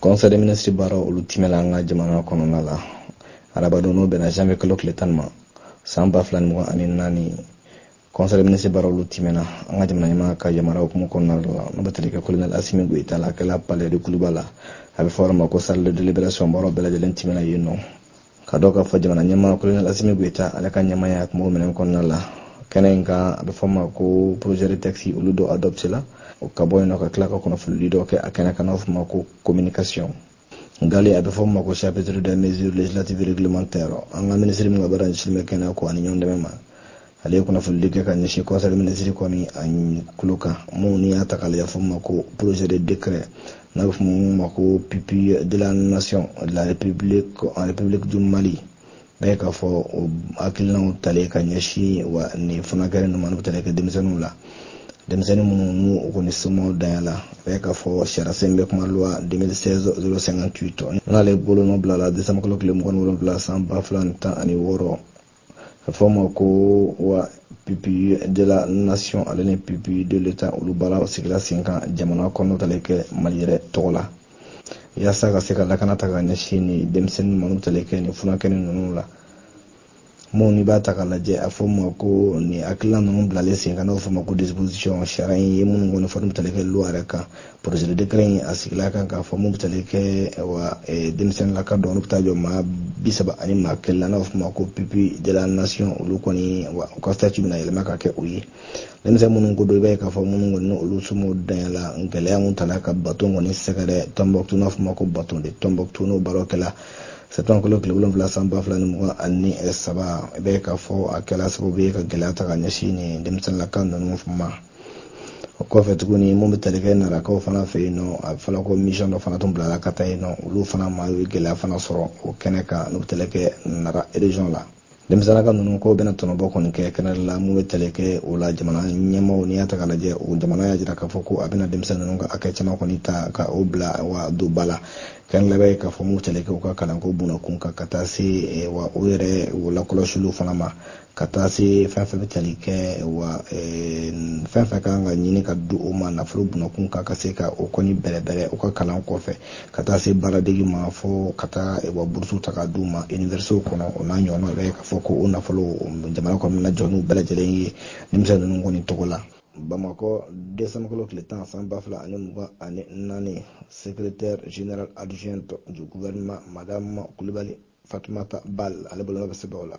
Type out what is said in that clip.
conseil des ministres baara olu timɛla an ka jamana kɔnɔna la arabadon n'o bɛnna janvier kalo tile tan ma san ba fila ni mugan ani naani conseil des ministres baara olu timɛna an ka jamana ɲɛmaa ka yamari hukumu kɔnɔna la n'o bɛ tali kɛ kolonɛl asimi goyita la a kɛla palais de kuluba la a bɛ fɔ yɔrɔ ma ko salle de délibération baaraw bɛɛ lajɛlen timɛna yen nɔ k'a dɔn k'a fɔ jamana ɲɛmaa kolonɛli asimi goyita ale ka ɲɛmaaya tun b'o minɛn kɔnɔna la kɛnɛ in kan a bɛ fɔ ma ko projet de texte olu dɔ adoptéla o ka bɔ yen nɔ ka tila ka kunnafonidi dɔ kɛ a kɛnɛ kan n'a bɛ fɔ ma ko communication ngali a bɛ fɔ ma ko chapitre de mesure législative réglementaire an ka minisiri min ka baara ɲɛsinnen bɛ kɛnɛya ko ani ɲɔgɔn dɛmɛ ma ale ye kunnafonidi kɛ ka ɲɛsin conseil des ministres kɔni a kulu kan minnu n'i y'a ta k'a lajɛ fɔ ma ko projet de décret n'a bɛ fɔ minnu ma ko pupille de la nation de la république en république du Mali n'a ye k'a fɔ o hakilinaw talen ka ɲɛsin wa nin fana kɛra nin minnu tali kɛ denmisɛnninw la denmisɛnnin minnu n'u u kɔni somaw danya la a ye k'a fɔ sariyasen bɛ kuma loi 2016 058 n'ale bolonɔ bilala desanbukalo tile mugan ni wolonwula san ba fila ni tan ani wɔɔrɔ a fɔ ma ko wa pupille de la nation ale ni pupille de l'État olu baara sigira sen kan jamana kɔnɔ tali kɛ mali yɛrɛ tɔgɔ la yaasa ka se ka lakana ta ka ɲɛsin ni denmisɛnnin minnu tali kɛ nin furakɛli ninnu la minnu n'i b'a ta ka lajɛ a fɔ ma ko nin hakilina ninnu bilalen sen kan n'o fɔ ma ko disposition sariya in ye minnu kɔni fɔ n'u tali kɛ loi yɛrɛ kan projet de décret in a sigila kan k'a fɔ mun bɛ tali kɛ wa denmisɛnninlaka dɔ olu bɛ taa jɔ maa bi saba ani maa kelen na n'a bɛ f'o ma ko pupille de la nation olu kɔni wa u ka statut bɛna yɛlɛma ka kɛ o ye denmisɛn minnu ko don i b'a ye k'a fɔ minnu kɔni ni olu somɔw danya la gɛlɛya mun tala ka baton kɔni sɛgɛrɛ tɔnbɔkutu n'a f'o ma ko bateau de tɔnbɔkutu n'o baaraw kɛla sɛtanbukalo tile wolonwula san ba fila ni mugan ani saba i b'a ye k'a fɔ a kɛla sababu ye ka gɛlɛya ta ka ɲɛsin nin denmisɛnninlaka ninnu ma o kɔfɛ tuguni mun bɛ tali kɛ narakaw fana fɛ yen nɔ a bɛ fɔla ko misiyɔn dɔ fana tun bilala ka taa yen nɔ olu fana ma ye gɛlɛya fana sɔrɔ o kɛnɛ kan n'u bɛ tali kɛ nara erezɔn la denmisɛnninlaka ninnu k'o bɛna tɔnɔbɔ kɔni kɛ kɛnɛ la mun bɛ tali kɛ o la jamana ɲɛmaaw n'i y'a ta k'a lajɛ o jamana y'a jira k'a fɔ ko a bɛna denmisɛnnin ninnu ka hakɛ caman kɔni ta ka o bila wa don ba la kɛnɛ labɛn ye k'a fɔ mun bɛ tali kɛ u ka kalanko bunakun kan ka taa se wa o yɛrɛ o lakɔlɔsiliw fana ma ka taa se fɛn fɛn bɛ tali kɛ wa fɛn fɛn kan ka ɲini ka di o ma nafolo bunakun kan ka se ka o kɔni bɛrɛbɛrɛ u ka kalan kɔfɛ ka taa se baaradege ma fo ka taa wa burusu ta ka d'u ma iniverisitew kɔnɔ o n'a ɲɔgɔnnaw bɛ k'a fɔ ko o nafolo jamana kɔni bɛna jɔ n'u bɛɛ lajɛlen ye denmisɛn ninnu kɔni tɔgɔ la bamakɔ desanbukalo tile tan san ba fila ani mugan ani naani secrétaire général adjoint du gouvernement madame kulibali fatumata balde ale bolo bɛ sɛbɛn o la